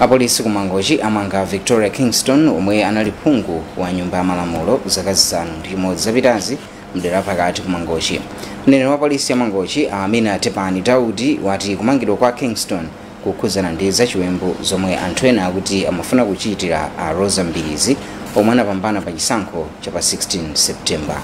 Apolisi ku Mangochi amanga a Victoria Kingston omwe anali phungu wa nyumba ya malamulo zaka zisanu ndi chimodzi zapitazi mdera pakati ku Mangochi. Mneneri wa polisi ya Mangochi a Amina Tepani Daudi wati kumangidwa kwa Kingston kukhudzana ndi zachiwembu zomwe anthu ena akuti amafuna kuchitira a Rosa Mbilizi omwe anapambana pa chisankho cha pa 16 September.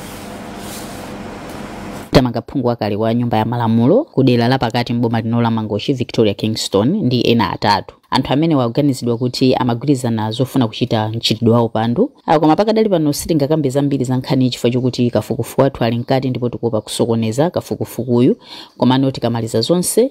tamanga phungu wakale wa nyumba ya malamulo ku dera la pakati m'boma lino la mangochi victoria kingston ndi ena atatu anthu amene akuganizidwa kuti amagwirizana zofuna kuchita mchitidwe wa upandu Ah, koma pakadali pano sitingakambe zambiri za nkhani chifukwa chokuti kafukufuku wathu ali mkati ndipo tikuopa kusokoneza kafukufukuyu komano tikamaliza zonse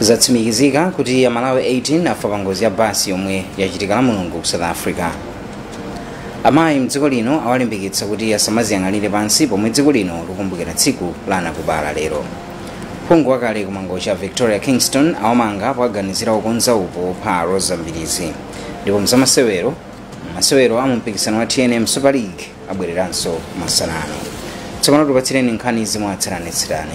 zatsimikizika kuti amalawi 18 afa pa ngozi ya basi yomwe yachitika la mulungu ku south africa amayi mdziko lino awalimbikitsa kuti asamaziyang'anire pansi pomwe dziko lino likumbukira tsiku la anakubala lero phungu wakale kumangochi a victoria kingston awamanga powaganizira kukonza upo wopha rosa mbilizi ndipo mzamasewero masewero a mumpikisano wa tnm super league abwereranso masana ano tsopano tikupatsireni nkhanizi mwatsatanetsatane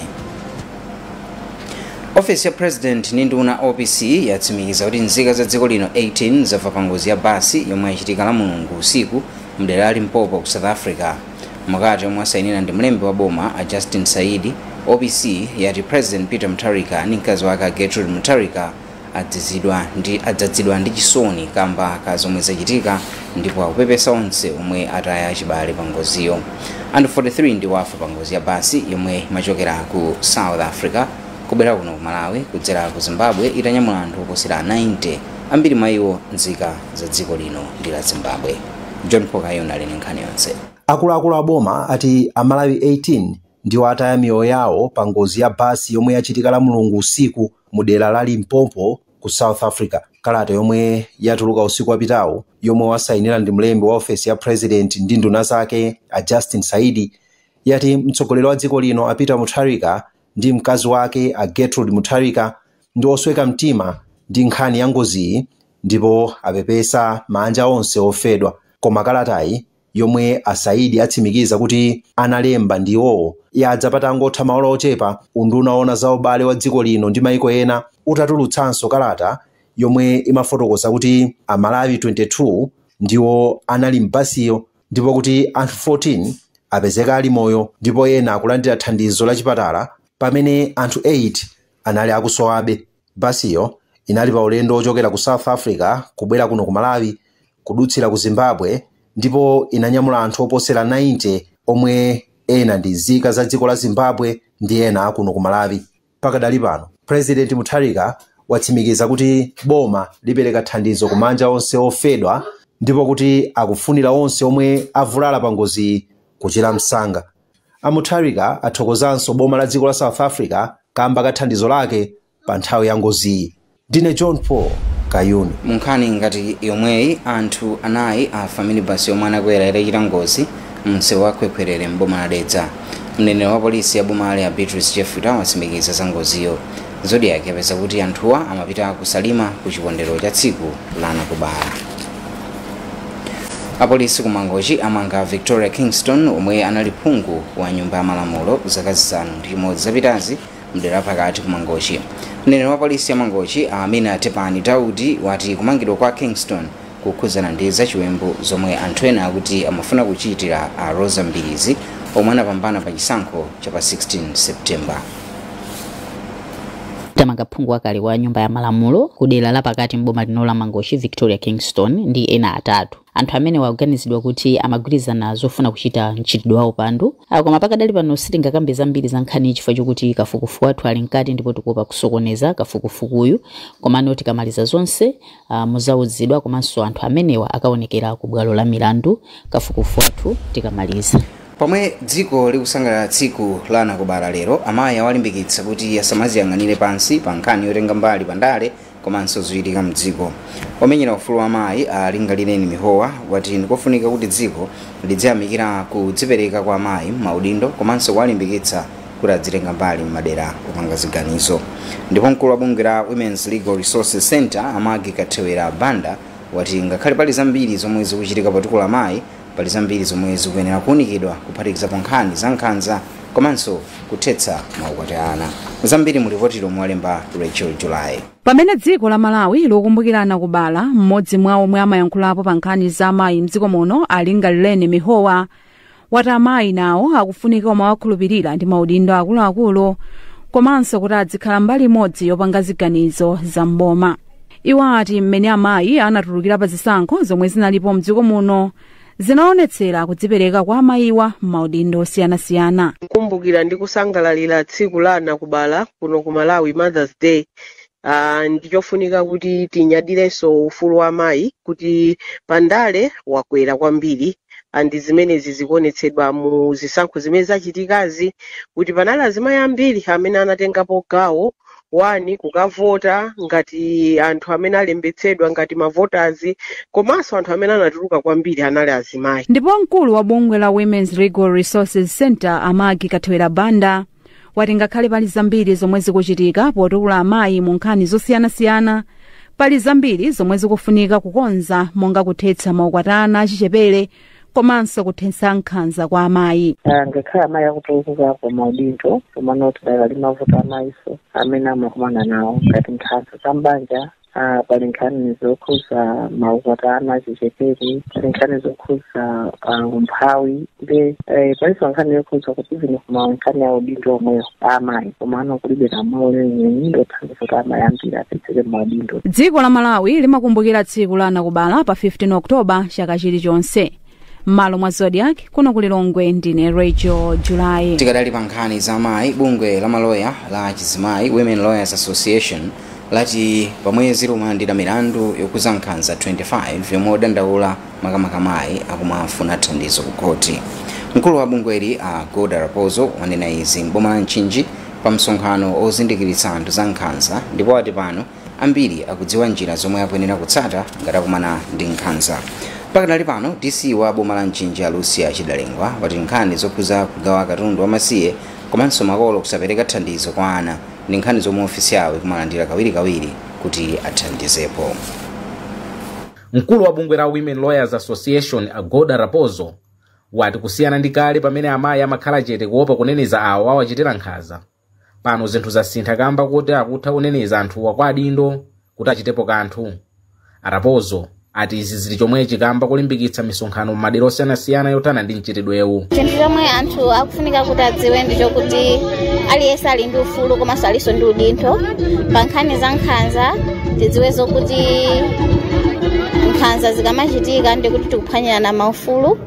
ofesi ya president ndi nduna opc yatsimikiza kuti nzika za dziko lino 18 zafa pa ngozi ya basi yomwe yachitika la mulungu usiku mdera la limpopo ku south africa mkalata yomwe asayinira ndi mlembi wa boma a justin saidi opc yati president peter mutharika ndi mkazi wake a gertrude mutharika adzizidwa ndi adzadzidwa ndi chisoni kamba ka zomwe zachitika ndipo akupepesa onse omwe ataya achibale pa ngoziyo anthu 43 ndiwo afa pa ngozi ya basi yomwe imachokera ku south africa kubwera kuno ku malawi kudzera ku zimbabwe itanyamula anthu oposera 90 ambiri mwa iwo nzika za dziko lino ndi la zimbabwe john pokayon ali ndi nkhani yonse akuluakulu a boma ati amalawi 18 ndiwo ataya miyoyo yawo pa ngozi ya basi yomwe yachitika la mulungu usiku mu dera la Limpopo ku South Africa. Kalata yomwe yatuluka usiku wapitawu yomwe wasainira ndi mlembi wa ofesi ya president ndi nduna zake a Justin Saidi yati mtsogoleri wa dziko lino a Peter Mutharika ndi mkazi wake a Gertrude Mutharika ndi osweka mtima ndi nkhani ya ngoziyi ndipo apepesa maanja onse ofedwa. Koma kalatayi yomwe a Saidi atsimikiza kuti analemba ndi iwowo, yadza patangotha maola ochepa unduna owona za ubale wa dziko lino ndi maiko ena utatulutsanso kalata yomwe imafotokoza kuti a Malawi 22 ndiwo anali m'basiyo ndipo kuti anthu 14 apezeka ali moyo ndipo ena akulandira thandizo la chipatala pamene anthu 8 anali akusowabe. Basiyo inali pa ulendo wochokera ku South Africa kubwera kuno ku Malawi kudutsira ku Zimbabwe ndipo inanyamula anthu oposera 90 omwe ena ndi nzika za dziko la Zimbabwe ndi ena akuno ku Malawi. Pakadali pano, Pulezidenti Mutharika watsimikiza kuti boma lipereka thandizo ku maanja onse ofedwa ndipo kuti akufunira onse omwe avulala pa ngoziyi kuchira msanga. A Mutharika athokozanso boma la dziko la South Africa kamba ka thandizo lake pa nthawi ya ngoziyi. Ndine John Paul Kayuni. Munkhani ngati yomweyi anthu anayi afa minibus yomwe anakwera itachita ngozi mumsewu wa Khwekhwerere m'boma la Dedza. Mneneri wa polisi ya bomali a Beatrice Jefita watsimikiza za ngoziyo. Zodiak yapeza kuti anthuwa amapita ku Salima ku chikondwerero cha tsiku la anakubala. Apolisi ku Mangochi amanga Victoria Kingston omwe anali phungu wa nyumba ya malamulo zaka zisanu ndi chimodzi zapitazi mdera pakati ku Mangochi. Mneneri wa polisi ya Mangochi a Amina Tepani Daudi wati kumangidwa kwa Kingston kukhudzana ndi zachiwembu zomwe anthu ena akuti amafuna kuchitira a rosa mbilizi omwe anapambana pa chisankho cha pa 16 september tamanga phungu wakale wa nyumba ya malamulo ku dera la pakati m'boma lino la mangochi victoria kingston ndi ena atatu anthu amene akuganizidwa kuti amagwirizana zofuna kuchita mchitidwe wa upandu Ah, koma pakadali pano sitingakambe zambiri za nkhani chifukwa chokuti kafukufuku wathu ali mkati ndipo tikuopa kusokoneza kafukufukuyu komano tikamaliza zonse Uh, muzauzidwa komanso anthu amenewa akaonekera ku bwalo la milandu kafukufuku wathu tikamaliza. Pomwe dziko likusangalala tsiku la anakubala lero, amayi awalimbikitsa kuti asamaziyang'anire pansi pa nkhani yotenga mbali pa ndale komanso zochitika mdziko. Omenyera ufulu wa amayi a Lingalireni Mihowa wati ndikofunika kuti dziko lidziyamikira kudzipereka kwa amayi m'maudindo komanso kuwalimbikitsa kuti adzitenga mbali m'madera opanga ziganizo ndipo mkulu wa bungwe la women's legal resources center a maggie kathewera banda wati ngakhale pali zambiri zomwe zikuchitika potukula amayi pali zambiri zomwe zikuyenera kuunikidwa kuphatikizapo nkhani za nkhanza komanso kuthetsa maukwati a ana zambiri mu lipoti lomwe walemba rachel july pamene dziko la malawi likukumbukira anakubala mmodzi mwa omwe amayankhulapo pa nkhani za amayi mdziko muno a lingalireni mihowa wati amayi nawo akufunika kumawakhulupirira ndi maudindo akuluakulu komanso kuti adzikhala mbali imodzi yopanga ziganizo za mboma iwo ati mmene amayi anatulukira pa zisankho zomwe zinalipo mdziko muno zinaonetsera kudzipereka kwa amayiwa m'maudindo osiyanasiyana kukumbukira ndi kusangalalira tsiku la anakubala kuno ku malawi mothers day Uh, ndichofunika kuti tinyadirenso ufulu wa mayi kuti pandale wakwera kwambiri andi zimenezi zikuonetsedwa mu zisankho zimene zachitikazi kuti panali azimayi ambiri amene anatengapo gawo wani kukavota ngati anthu amene alembetsedwa ngati mavoters komanso anthu amene anatuluka kwambiri anali azimayi ndipo mkulu wa bungwe la Women's Legal Resources Center a Maggie Kathewera Banda wati ngakhale pali zambiri zomwe zikuchitika potukula amayi mu nkhani zosiyanasiyana pali zambiri zomwe zikufunika kukonza monga kuthetsa maukwati a ana achichepere komanso kuthetsa nkhanza kwa amayi Ah, ngakhale amayi akutukuka ku maudindo komano tidakali ndi mavuto amayinso amene amakumana nawo ngati nkhanza za mbanja Ah, pali nkhani zokhuza maukwati a ana achichepere pali nkhani zokhuza ah, umphawi ndi eh, palinso nkhani yokhuza kuti zino koma nkhani ya udindo omwewo amayi komano kulibe lamulo lenileni lothandiza kuti amayi ambiri apezeke m'maudindo dziko la malawi limakumbukira tsiku la anakubala pa 15 oktoba chaka chilichonse m'malo mwa zodiac kuno ku lilongwe ndine rachel julayi tikadali pa nkhani za amayi bungwe la maloya la chizimayi women lawyers association lati pamwezi likumalandira milandu yokhuza nkhanza 25 yomwe odandaula makamaka amayi akumafuna thandizo ku khoti mkulu wa bungweli a golda rapozo wanena izi m'boma la mchinji pa msonkhano ozindikiritsa anthu za nkhanza ndipo ati pano ambiri akudziwa njira zomwe akuyenera kutsata ngati akumana ndi nkhanza pakadali pano dc wa boma la mchinji a lucia chidalengwa wati nkhani zokhuza kugawa katundu wamasiye komanso makolo kusapereka thandizo kwa ana ndi nkhani zomwe ofisi yawo ikumalandira kawirikawiri kuti athandizepo mkulu wa bungwe la women lawyers association a golda rapozo wati kusiyana ndi kale pamene amayi amakhala chete kuopa kuneneza awo awachitira nkhanza pano zinthu zasintha kamba koti akutha kuneneza anthuwa kwa adindo kuti achitepo kanthu a rapozo ati izi zili chomwechi kamba kolimbikitsa misonkhano m'madera osiyanasiyana yothana ndi mchitidwewu chinthu chomwe anthu akufunika kuti adziwe ndi chokuti aliyense ali ndi ufulu komanso alinso ndi udindo pa nkhani za nkhanza tidziwe zokuti nkhanza zikamachitika ndikuti tikuphwanyirana maufulu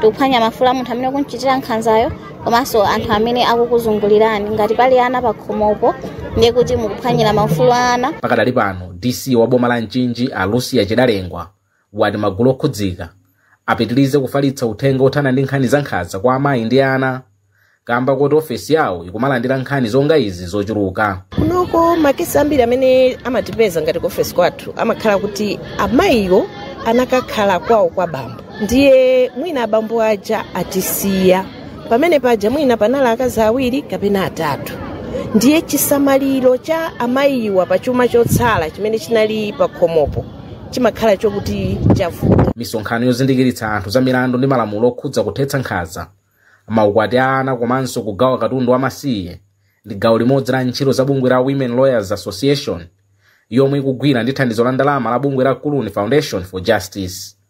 tikuphwanya maufulu a munthu amene akumchitira nkhanzayo komanso anthu amene akukuzungulirani ngati pali ana pakhomopo ndiye kuti mukuphwanyira maufulu a ana pakadali pano dc wa boma la mchinji a lucia chidalengwa wati magulu okhudzika apitirize kufalitsa uthenga othana ndi nkhani za nkhanza kwa amayi ndi ana kamba koti ofesi yawo ikumalandira nkhani zonga izi zochuluka kunoko makesi ambiri amene amatipeza ngati ku ofesi kwathu amakhala kuti amayiwo anakakhala kwawo kwa bambo ndiye mwina abambo aja atisiya pamene paja mwina panali akazi awiri kapena atatu ndiye chisamaliro cha amayiwa pa chuma chotsala chimene chinali pa khomopo chimakhala chokuti chavuta misonkhano yozindikiritsa anthu za milandu ndi malamulo okhudza kuthetsa nkhanza maukwati a ana komanso kugawa katundu wamasiye ndi gawo limodzi la ntchito za bungwe la women lawyers association yomwe ikugwira ndi thandizo la ndalama la bungwe la clooney foundation for justice